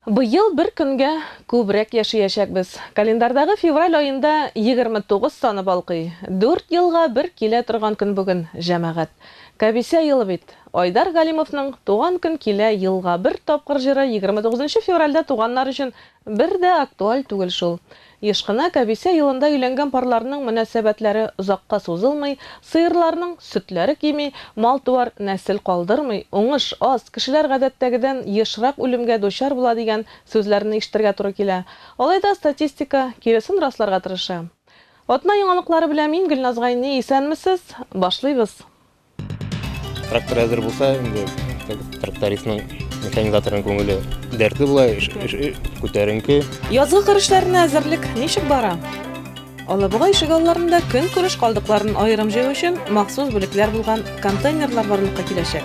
Быел бер көнгә күбрәк яшиячәкбез. Календарьдагы февраль аенда 29 саны балкый. Дүрт елга бер килә торган көн бүген, җәмәгать. Кәбисә елы бит. Айдар Галимовның Туган көн килә елга бер тапкыр җыры 29 нчы февральдә туганнар өчен Бер дә актуаль түгел шул. Еш кына Кәбисә елында өйләнгән парларның мөнәсәбәтләре озакка сузылмый, сыерларның сөтләре кими, мал-туар нәсел калдырмый, уңыш аз, кешеләр гадәттәгедән ешрак үлемгә дучар була дигән сүзләрне ишетергә туры килә. Алайда статистика киресен расларга тырыша. Атна яңалыклары белән мин Гөлназ Гайни, исәнмесез! Башлыйбыз! Трактор әзер булса, инде трактористның механизаторның күңеле дәртле була, күтәренке. Язгы кыр эшләренә әзерлек ничек бара? Алабуга ишек алларында көн күреш калдыкларын аерым җыю өчен махсус бүлекләр булган контейнерлар барлыкка киләчәк.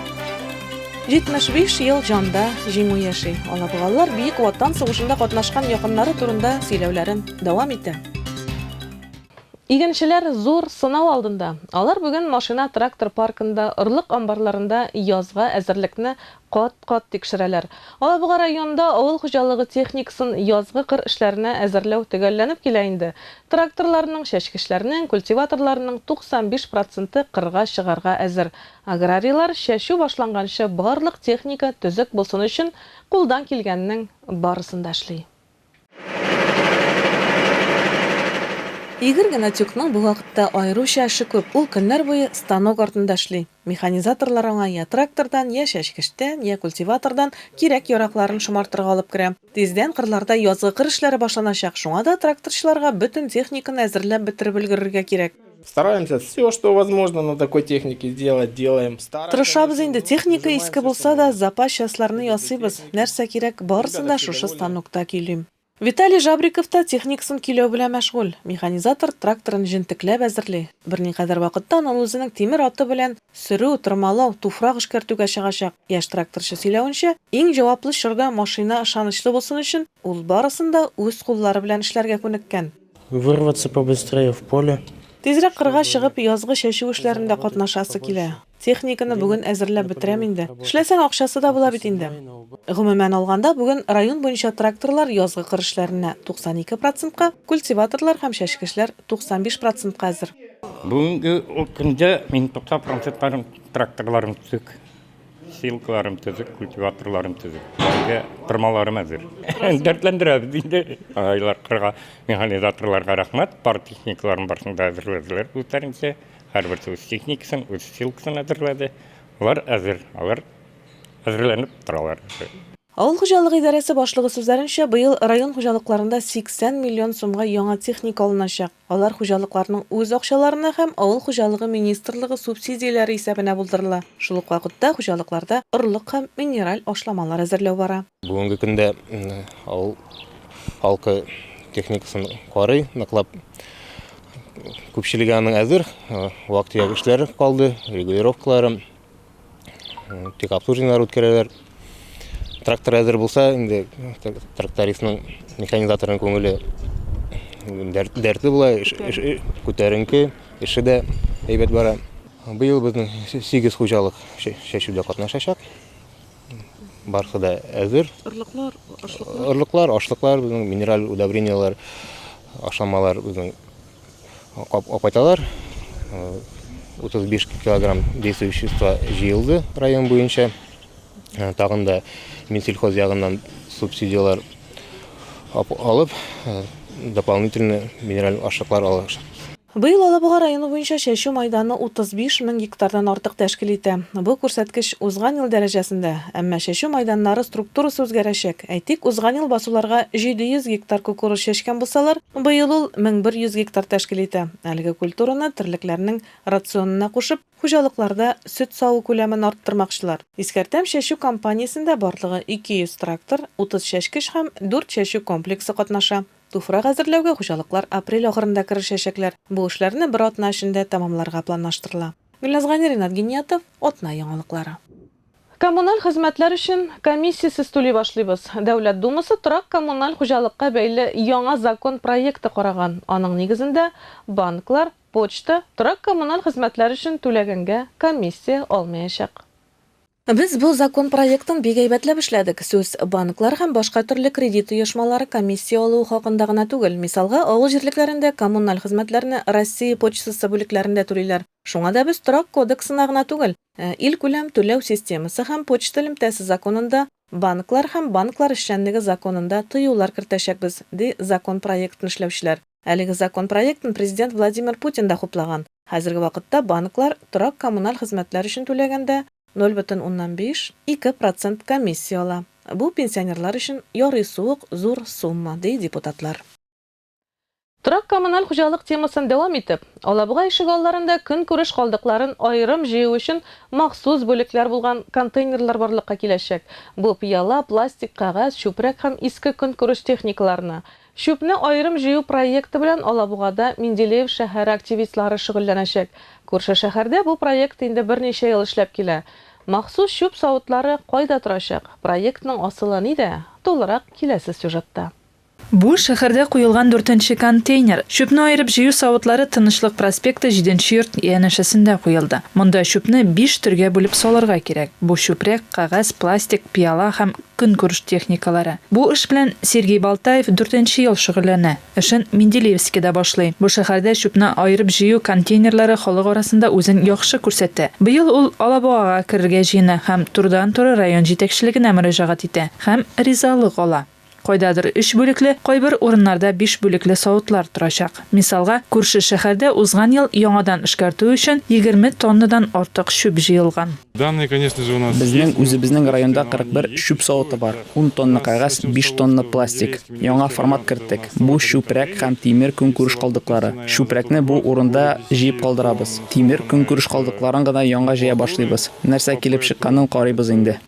75 ел җанда җиңү яши. Алабугалылар Бөек Ватан сугышында катнашкан якыннары турында сөйләүләрен дәвам итә. Игенчеләр зур сынау алдында. Алар бүген машина-трактор паркында, орлык амбарларында язга әзерлекне кат-кат тикшерәләр. Алабуга районында авыл хуҗалыгы техникасын язгы кыр эшләренә әзерләү төгәлләнеп килә инде. Тракторларның, чәчкечләрнең, культиваторларның 95 проценты кырга чыгарга әзер. Аграрийлар чәчү башланганчы барлык техника төзек булсын өчен кулдан килгәннең барысын да эшли. Игорь Гнатюкның бу вакытта аеруча эше күп, ул көннәр буе станок артында эшли. Механизаторлар аңа йә трактордан, йә чәчкечтән, йә культиватордан кирәк-яракларын шомартырга алып керә. Тиздән кырларда язгы кыр эшләре башланачак, шуңа да тракторчыларга бөтен техниканы әзерләп бетереп өлгерергә кирәк. Стараемся все, что возможно на такой технике сделать, делаем. Тырышабыз инде, техника иске булса да, запас частьларны ясыйбыз. Нәрсә кирәк, барысын да шушы станокта көйлим. Виталий Жабриков та техникасын көйләү белән мәшгуль. Механизатор тракторын җентекләп әзерли. Берникадәр вакыттан ул үзенең тимер аты белән сөрү, тырмалау, туфрак эшкәртүгә чыгачак. Яшь тракторчы сөйләвенчә, иң җаваплы чорда машина ышанычлы булсын өчен, ул барысын да үз куллары белән эшләргә күнеккән. Вырваться побыстрее в поле. Тизрәк кырга чыгып, язгы чәчү эшләрендә катнашасы килә. Техниканы бүген әзерләп бетерәм инде. Эшләсәң, акчасы да була бит инде. Гомумән алганда, бүген район буенча тракторлар язгы кыр эшләренә 92 процентка, культиваторлар һәм чәчкечләр 95 процентка әзер. Бүгенге көндә мин 90 процентка тракторларны төзедек. Силкаларым төзек, культиваторларым төзек. Безгә тырмаларым әзер. Дәртләндерәбез инде. Айлар кырга механизаторларга рәхмәт. Пар техникаларын барсын да әзерләделәр үзләренчә. Һәрберсе үз техникасын, үз силкасын әзерләде. Алар әзер, алар әзерләнеп торалар. Авыл хуҗалыгы идарәсе башлыгы сүзләренчә, быел район хуҗалыкларында 80 миллион сумга яңа техника алыначак. Алар хуҗалыкларның үз акчаларына һәм Авыл хуҗалыгы министрлыгы субсидияләре исәбенә булдырыла. Шул ук вакытта хуҗалыкларда орлык һәм минераль ашламалар әзерләү бара. Бүгенге көндә авыл халкы техникасын карый, ныклап. Күпчелеге аның әзер, вак-төяк эшләре калды, регулировкалары. Тик обслуживаниелар үткәрәләр. Трактор әзер булса, инде трактористның, механизаторның күңеле дәртле була, күтәренке, эше дә әйбәт бара. Быел безнең 8 хуҗалык чәчүдә катнашачак. Барысы да әзер. Орлыклар, ашлыклар. Орлыклар, ашлыклар, минераль удобрениялар, ашамалар безнең Апаталар 35 килограмм действующее вещество җыелды район буенча. Тагын да Минсельхоз ягыннан субсидияләр алып, дополнительно минераль ашлыклар алачак. Быел Алабуга районы буенча чәчү мәйданы 35 мең гектардан артык тәшкил итә. Бу күрсәткеч узган ел дәрәҗәсендә, әмма чәчү мәйданнары структурасы үзгәрәчәк. Әйтик, узган ел басуларга 700 гектар кукуруз чәчкән булсалар, быел ул 1100 гектар тәшкил итә. Әлеге культураны терлекләрнең рационына кушып, хуҗалыкларда сөт саву күләмен арттырмакчылар. Искәртәм, чәчү кампаниясендә барлыгы 200 трактор, 30 чәчкеч һәм 4 чәчү комплексы катнаша. Туфрак әзерләүгә хуҗалыклар апрель ахырында керешәчәкләр. Бу эшләрне бер атна эчендә тәмамларга планлаштырыла. Гөлназ Гани, Ринат Гиниятов, Атна яңалыклары. Коммуналь хезмәтләр өчен комиссиясез түли башлыйбыз. Дәүләт Думасы торак-коммуналь хуҗалыкка бәйле яңа закон проекты караган, аның нигезендә банклар, почта, торак-коммуналь хезмәтләр өчен түләгәнгә комиссия алмаячак. Без бу закон проектын бик әйбәтләп эшләдек. Сүз банклар һәм башка төрле кредит оешмалары комиссия алуы хакында гына түгел. Мисалга, авыл җирлекләрендә коммуналь хезмәтләрне Россия почтасы бүлекләрендә түлиләр. Шуңа да без Торак кодексына гына түгел, ә Илкүләм түләү системасы һәм почта элемтәсе законында, Банклар һәм банклар эшчәнлеге законында тыюлар кертәчәкбез, ди закон проектын эшләүчеләр. Әлеге закон проектын Президент Владимир Путин да хуплаган. Хәзерге вакытта банклар торак-коммуналь хезмәтләр өчен түләгәндә ноль бөтен уннан биш, ике процент комиссия ала. Бу пенсионерлар өчен ярый суык зур сумма, ди депутатлар. Торак-коммуналь хуҗалык темасын дәвам итеп, Алабуга ишегалларында көнкүреш калдыкларын аерым җыю өчен махсус бүлекләр булган контейнерлар барлыкка киләчәк, бу пыяла, пластик, кәгазь, чүпрәк һәм иске көнкүреш техникаларына. Чүпне аерым җыю проекты белән Алабугада Менделеев шәһәре активистлары шөгыльләнәчәк. Күрше шәһәрдә бу проект инде берничә ел эшләп килә. Махсус чүп савытлары кайда торачак, проектның асылы нидә, тулырак киләсе сюжетта. Бу, шәһәрдә куелган дүртенче контейнер. Чүпне аерып җыю савытлары Тынычлык проспекты җиденче йорт янәшәсендә куелды. Монда чүпне биш төргә бүлеп салырга кирәк. Бу чүпрәк, кәгазь, пластик, пыяла һәм көнкүреш техникалары. Бу эш белән Сергей Балтаев дүртенче ел шөгыльләнә. Эшен Менделеевскида башлый. Бу шәһәрдә чүпне аерып җыю контейнерлары халык арасында үзен яхшы күрсәтә. Быел ул Алабугага керергә җыена һәм турыдан-туры район җитәкчелегенә мөрәҗәгать итә һәм ризалык ала. Кайдадыр өч бүлекле, кайбер урыннарда биш бүлекле савытлар торачак. Мисалга, күрше шәһәрдә узган ел яңадан эшкәртү өчен егерме тоннадан артык чүп җыелган. Безнең үзебезнең районда 41 чүп савыты бар, ун тонна кәгазь, биш тонна пластик. Яңа формат керттек, бу чүпрәк һәм тимер көнкүреш калдыклары. Чүпрәкне бу урында җыеп калдырабыз. Тимер көнкүреш калдыкларын гына яңа җыя башлыйбыз. Нәрсә килеп чыкканын карыйбыз инде.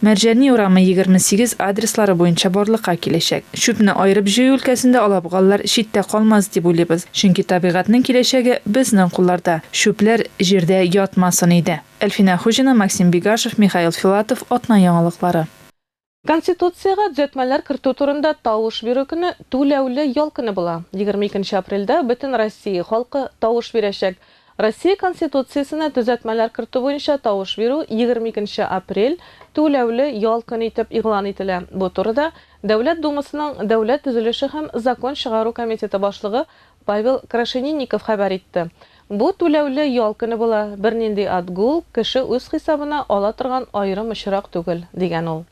Мәрҗани урамы 28 адреслары буенча барлыкка киләчәк. Чүпне аерып җыю өлкәсендә алабугалылар читтә калмас дип уйлыйбыз, чөнки табигатьнең киләчәге безнең кулларда, чүпләр җирдә ятмасын иде. Әлфинә Хуҗина, Максим Бигашев, Михаил Филатов, Атна яңалыклары. Конституциягә төзәтмәләр кертү турында тавыш бирү көне түләүле ял көне була. Егерме икенче апрельдә бөтен Россия халкы тавыш бирәчәк. Россия Конституциясенә төзәтмәләр кертү буенча тавыш бирү егерме икенче апрель, түләүле ял көне итеп игълан ителә. Бу турыда Дәүләт Думасының Дәүләт төзелеше һәм закон чыгару комитеты башлыгы Павел Крашенинников хәбәр итте. Бу түләүле ял көне була, бернинди отгул кеше үз хисабына ала торган аерым очрак түгел, дигән ул.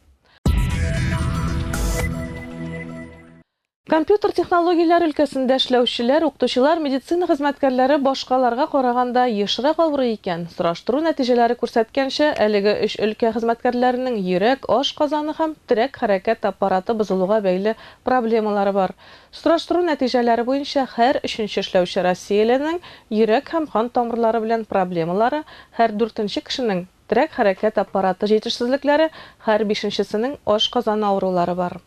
Компьютер технологияләре өлкәсендә эшләүчеләр, укытучылар, медицина хезмәткәрләре башкаларга караганда ешрак авырый икән. Сораштыру нәтиҗәләре күрсәткәнчә, әлеге өч өлкә хезмәткәрләренең йөрәк, ашказаны һәм терәк-хәрәкәт аппараты бозылуга бәйле проблемалары бар. Сораштыру нәтиҗәләре буенча, һәр өченче эшләүче россияләрнең йөрәк һәм кан тамырлары белән проблемалары, һәр дүртенче кешенең, терәк-хәрәкәт аппараты җитешсезлекләре, һәр бишенчесенең ашказаны авырулары бар.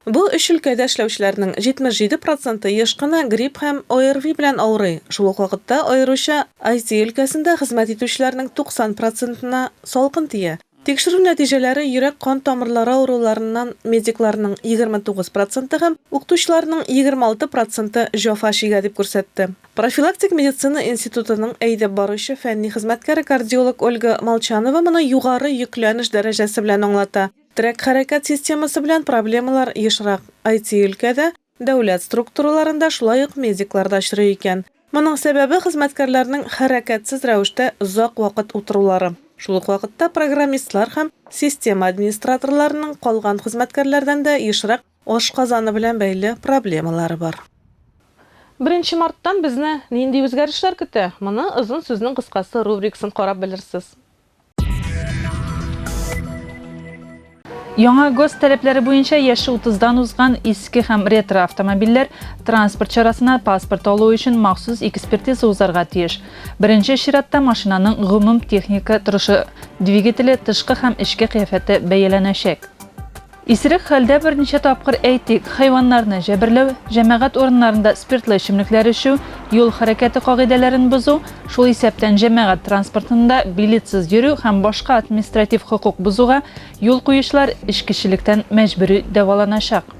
Бу өч өлкәдә эшләүчеләрнең 77 проценты еш кына грипп һәм ОРВИ белән авырый, шул ук вакытта аеруча IT өлкәсендә хезмәт итүчеләрнең 90 процентына салкын тия. Тикшерү нәтиҗәләре йөрәк-кан тамырлары авыруларыннан медикларның 29 проценты һәм укытучыларның 26 проценты җафа чигә, дип күрсәтте профилактик медицина институтының әйдәп баручы фәнни хезмәткәре-кардиолог Ольга Молчанова моны югары йөкләнеш дәрәҗәсе белән аңлата. Терәк-хәрәкәт системасы белән проблемалар ешрак, IT-өлкәдә, дәүләт структураларында, шулай ук медикларда очрый икән. Моның сәбәбе, хезмәткәрләрнең хәрәкәтсез рәвештә озак вакыт утырулары. Шул ук вакытта программистлар һәм система администраторларының калган хезмәткәрләрдән дә ешрак ашказаны белән бәйле проблемалары бар. Беренче марттан безне нинди үзгәрешләр көтә? Моны озын сүзнең кыскасы рубрикасын карап белерсез. Яңа гос таләпләре буенча яше 30-дан узган иске һәм ретро автомобильләр транспорт чарасына паспорт алу өчен махсус экспертиза узарга тиеш. Беренче чиратта машинаның гомум техника торышы, двигателе, тышкы һәм эчке кыяфәте бәяләнәчәк. Исерек хәлдә берничә тапкыр, әйтик, хайваннарны җәберләү, җәмәгать урыннарында спиртлы эчемлекләр эчү, юл хәрәкәте кагыйдәләрен бозу, шул исәптән җәмәгать транспортында билетсыз йөрү һәм башка административ хокук бозуга юл куючылар эчкечелектән мәҗбүри дәваланачак.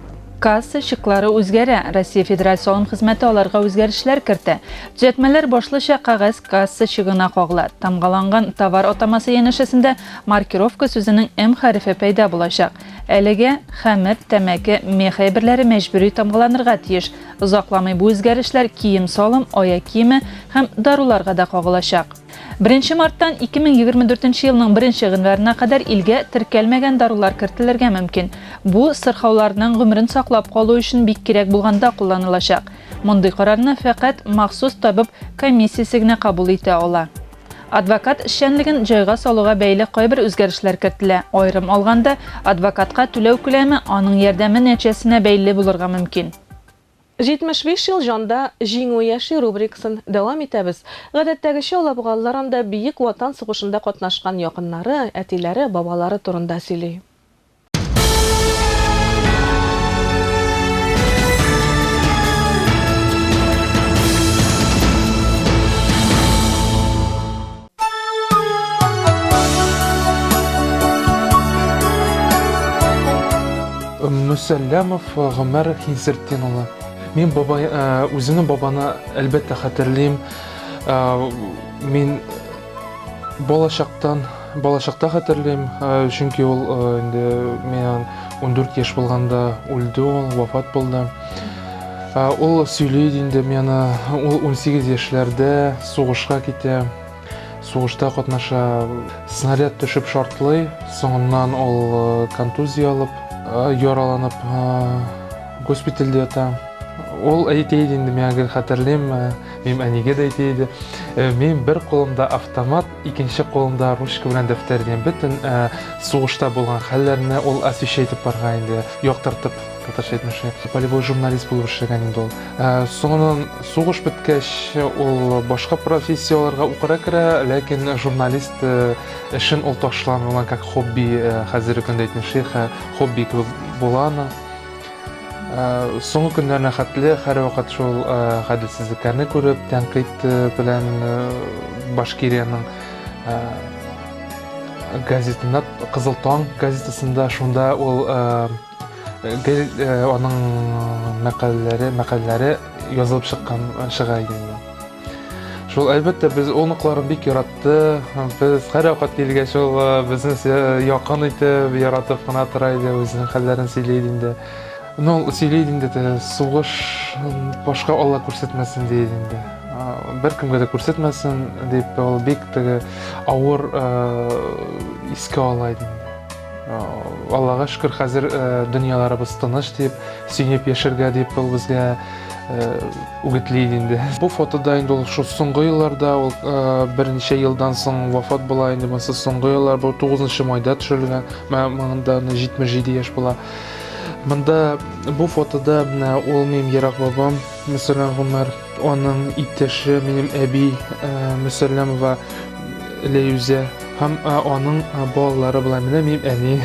Касса чеклары үзгәрә, Россия Федераль салым хезмәте аларга үзгәрешләр кертә. Төзәтмәләр башлыча кәгазь касса чегына кагыла, тамгаланган товар атамасы янәшәсендә Маркировка сүзенең М хәрефе пәйда булачак. Әлегә хәмер, тәмәке, мех әйберләре мәҗбүри тамгаланырга тиеш. Озакламый бу үзгәрешләр кием-салым, аяк киеме һәм даруларга да кагылачак. Беренче марттан 2024 елның беренче гыйнварына кадәр илгә теркәлмәгән дарулар кертелергә мөмкин. Бу сырхауларның гомерен саклап калу өчен бик кирәк булганда кулланылачак. Мондый карарны фәкать махсус табиб комиссиясе генә кабул итә ала. Адвокат эшчәнлеген җайга салуга бәйле кайбер үзгәрешләр кертелә. Аерым алганда, адвокатка түләү күләме аның ярдәме нәтиҗәсенә бәйле булырга мөмкин. 75 ел җанда, Җиңү яши рубрикасын дәвам итәбез. Гадәттәгечә, алабугалылар анда Бөек Ватан сугышында катнашкан якыннары, әтиләре, бабалары турында сөйли. Мөсәлләмов э, Гомәр Хинсертдин улы. Мин бабай, э, үземнең бабаны әлбәттә хәтерлим. Э, мин Балачактан, балачакта хәтерлим, чөнки ул инде миңа 14 яшь булганда үлде ул, вафат булды. Ул сөйли инде миңа, ул 18 яшьләрдә сугышка китә, сугышта катнаша. Снаряд төшеп шартлый, соңыннан ул контузия алып, яраланып госпитальдә ята. Ул әйтә иде инде миңа, хәтерлим, Минем әнигә дә әйтә иде. Э, мин бер кулымда автомат, икенче кулымда ручка белән дәфтәр дигән бөтен э, сугышта булган хәлләрне ул освещать итеп барга инде, яктыртып татарча әйтмешне. Полевой журналист булып эшләгән инде ул. Э, Соңыннан сугыш беткәч, ул башка профессияләргә укырга керә, ләкин журналист эшен ул ташламый, аңа как хобби хәзерге көндә әйтмешли, хобби кебек була аның. Соңгы көннәренә хәтле һәрвакыт шул гаделсезлекләрне күреп, тәнкыйть белән Башкириянең газетында Кызыл таң газетасында шунда ул аның мәкаләләре мәкаләләре язылып чыккан чыга иде. Шул әлбәттә без оныклар бик яратты. Без һәрвакыт килгәч ул безне якын итеп, яратып кына тора иде, үзенең хәлләрен сөйли иде инде. Ну, сөйли иде инде, сугыш башка Алла күрсәтмәсен ди инде. Беркемгә дә күрсәтмәсен дип ул бик теге авыр искә ала иде. Аллага шөкер, хәзер дөньяларыбыз тыныч дип, сөенеп яшәргә дип ул безгә үгетли инде. Бу фотода инде ул шул соңгы елларда, ул берничә елдан соң вафат була инде. Монысы соңгы еллар, бу 9 майда төшерелгән. Монда 77 яшь була. Монда бу фотода менә ул минем ерак бабам Мөсәлләм Гомәр, аның иптәше минем әби Мөсәлләмова Ләюзә Һәм аның балалары була. Менә мин әни.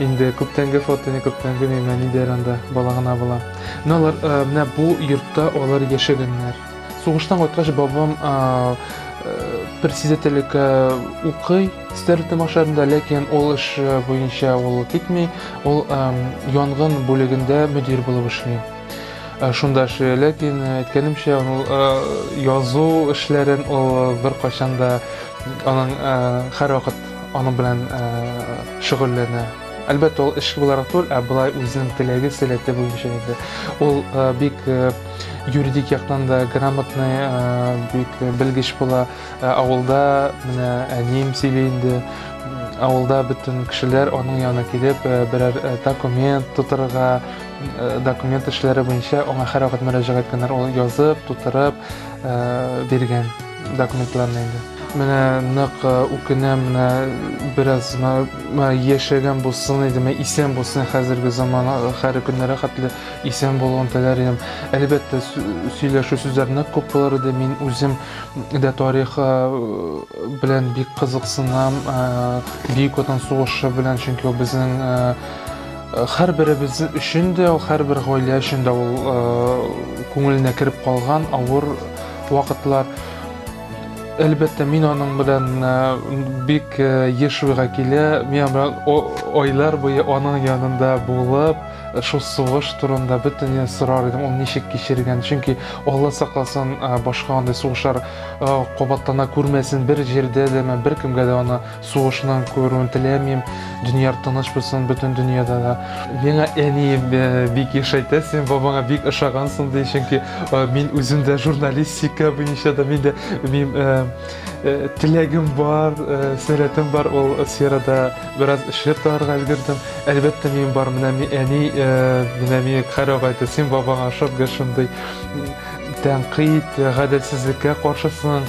Инде күптәнге фото, не күптәнге мин әни дәр анда бала гына була. Менә алар менә бу йортта алар яшәгәннәр. Сугыштан кайткач бабам председательлеккә укый Стерлитон машарында, ләкин ул эш буенча ул китми. Ул янгын бүлегендә мөдир булып эшли. Э, шунда эшли ләкин э, әйткәнемчә ул э, язу эшләрен ул беркайчан да аның һәрвакыт аның белән шөгыльләнә әлбәттә ул эш буларак түгел ә былай үзенең теләге сәләте буенча инде ул бик юридик яктан да грамотный бик белгеч була авылда менә әнием сөйли инде авылда бөтен кешеләр аның янына килеп берәр документ тутырырга Э, документ эшләре буенча аңа һәрвакыт мөрәҗәгать иткәннәр ул язып тутырып э, биргән документларны инде менә нык э, үкенәм менә бераз яшәгән булсын иде менә исән булсын хәзерге заман хәр көннәре хәтле исән булуын теләр идем әлбәттә сөйләшү сүзләр нык күп булыр иде мин үзем дә тарих белән бик кызыксынам бөек ватан сугышы белән чөнки ул безнең Хәрберебез өчен дә, хәрбер гаилә өчен дә ул күңеленә кереп калган авыр вакытлар. Әлбәттә, мин аның белән бик еш уйга килә. Мин белән айлар буе аның янында булып, шул сугыш турында бөтенләй сорар идем, ул ничек кичергән. Чөнки Алла сакласын, башка андый сугышлар кабатлана күрмәсен, бер җирдә дә, бер кемгә дә аны Сугышның күрүен теләмим, дөнья тыныч булсын бөтен дөньяда да. Миңа әни бик еш әйтә, син бабаңа бик ошагансың ди, чөнки мин үзем дә журналистика буенча да мин дә мин теләгем бар, сәләтем бар ул сферада бераз эшләп табарга өлгердем. Әлбәттә, мин бар, менә мин әни, менә мин карап әйтә, син бабаңа ошап гел шундый тәнкыйть, гаделсезлеккә каршысың.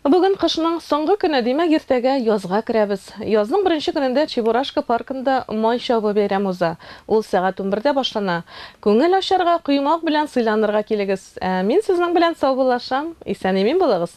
Бүген кышның соңгы көне, димәк, иртәгә язга керәбез. Язның беренче көнендә Чебурашка паркында май чабу бәйрәме уза. Ул сәгать унбердә башлана. Күңел ачарга, коймак белән сыйланырга килегез. Ә мин сезнең белән саубуллашам. Исән-имин булыгыз!